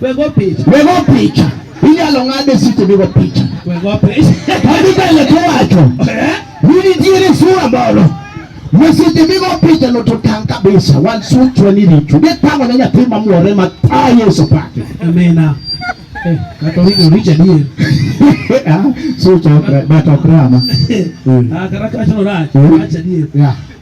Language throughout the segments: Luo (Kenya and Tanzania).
Wego picha. Wego picha. Inyalo ng'ade site wego picha. Wego picha. Kadi kale to wacho. Eh? Nini tiere sura bolo. Mesite migo picha no to tang kabisa. Wan sun chwani richo. Ge tango na nyathi mamuore ma ta Yesu pake. Amina. Eh, kato richo richo diye. Ah, so chakra, bato krama. Ah, karakasho racho, racho diye. Yeah.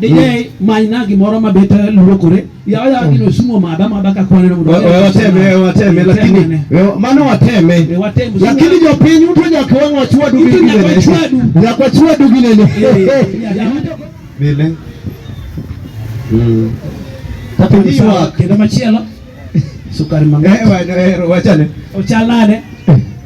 Dinye manyna gimoro ma bet luokore. Yawa yawa gino mm. sumo mada mada ka kwaneno mondo. Wateme wateme lakini mano wateme. Lakini jopiny uto nyaka wang' wachwadu gi ginene. Nyaka wachwadu ginene. Bile. Mm. Tatu ni sawa kendo machielo. Sukari mang'eny. Eh, eh, wachane. Ochalane.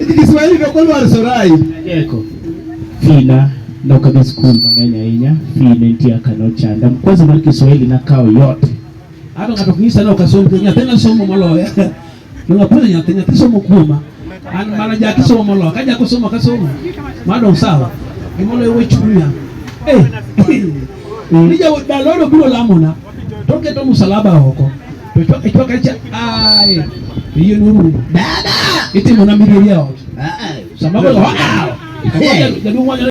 Iki Kiswahili ndio kwa lwar sorai. Yeko. Fina no kabe school mang'eny ahinya. Fina nitie kano chanda. Kwanza mar Kiswahili na kao yote. Hata kata kunyisa no kasomo kenya tena somo maloya. Ndio pale nyathi nyathi somo kuoma. An mara ja kisomo maloya. Kaja kusoma kasomo. Madam sawa. Gimolo wewe chunya. Eh. Nija daloro biro lamona. toketo msalaba oko to chwaka chwaka cha ai iye nuru dada itimo na miriria ot sama ko wow jaduong' wanyore